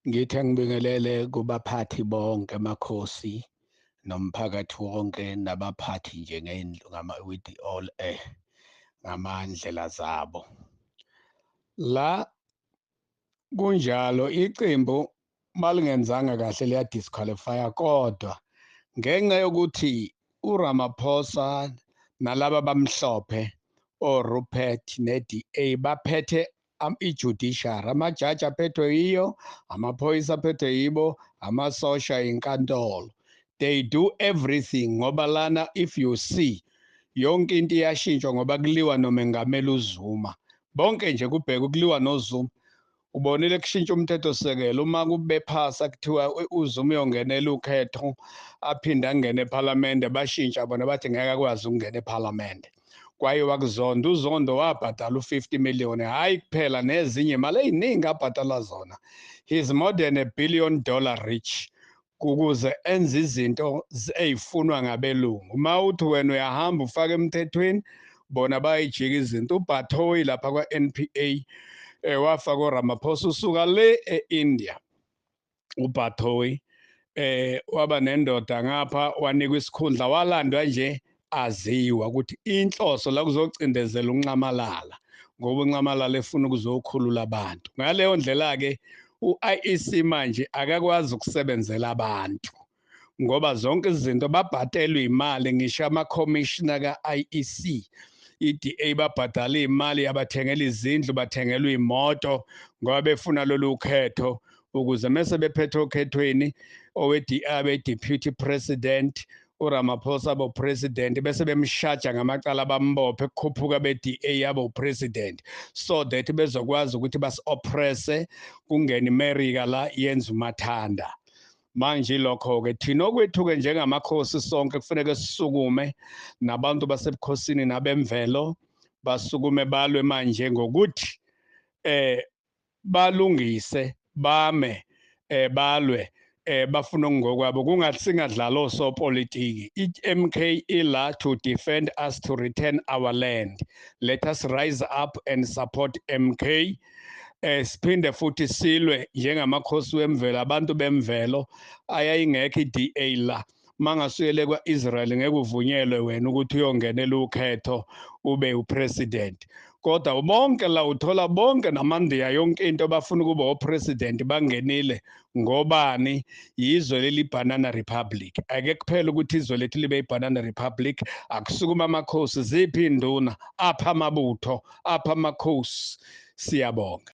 Ngithe ngibingelele kubaphathi bonke amakhosi nomphakathi wonke nabaphathi nje ngendlu ngama with all eh ngamandlela zabo la kunjalo iqembu malingenzanga kahle liya disqualify kodwa ngenxa yokuthi uRamaphosa nalaba bamhlophe oRupert neDA baphethe ijudiciary amajaji aphethwe yiyo amaphoyisa aphethwe yibo amasosha inkantolo they do everything ngoba lana if you see yonke into iyashintshwa ngoba kuliwa nomengameli uzuma bonke nje kubheka ukuliwa nozuma ubonile kushintsha umthethosisekelo uma kubephasa kuthiwa uzuma uyongenela ukhetho aphinde angene ephalamende bashintsha bona bathi ngeke akwazi ukungena ephalamende kwaye wakuzonda uzondo wabhatala u-50 million hayi kuphela nezinye imali eyiningi abhatala zona he's more than a billion dollar rich ukuze enze izinto ezifunwa ngabelungu uma uthi wena uyahamba ufaka emthethweni bona bayijika izinto ubhathoyi lapha kwa-npa eh, wafaka uramaphosa usuka le e-india uBathoyi eh waba nendoda ngapha wanikwa isikhundla walandwa nje aziwa ukuthi inhloso la kuzocindezela unxamalala ngoba unxamalala efuna ukuzokhulula abantu ngaleyo ndlela ke uIEC manje akakwazi ukusebenzela abantu ngoba zonke izinto babhadelwe imali ngisho ama commissioner ka IEC iDA babhadala imali yabathengela izindlu bathengelwa imoto ngoba befuna lolu khetho ukuze mese bephethe okhethweni oweDA abe deputy president uRamaphosa bo president bese bemshaja ngamacala bambophe kukhuphuka beDA yabo president so that bezokwazi ukuthi basi oppresse kungena iMerica la yenza umathanda manje lokho-ke thina okwethu-ke njengamakhosi sonke kufaneke sisukume nabantu basebukhosini nabemvelo basukume balwe manje ngokuthi eh balungise bame eh balwe eh bafuna ngokwabo kungathi singadlala osopolitiki iMK ila to defend us to return our land let us rise up and support MK eh siphinde futhi silwe njengamakhosi wemvelo abantu bemvelo ayayingekho iDA la mangasuyele kwaIsrael ngeke uvunyelwe wena ukuthi uyongenela ukhetho ube upresident kodwa bonke la uthola bonke namandiya yonke into bafuna ukuba opresident bangenile ngobani yizwe lelibanana republic ake kuphela ukuthi izwe lethu libe ibanana republic akusukuma amakhosi ziphi induna apha amabutho apha amakhosi siyabonga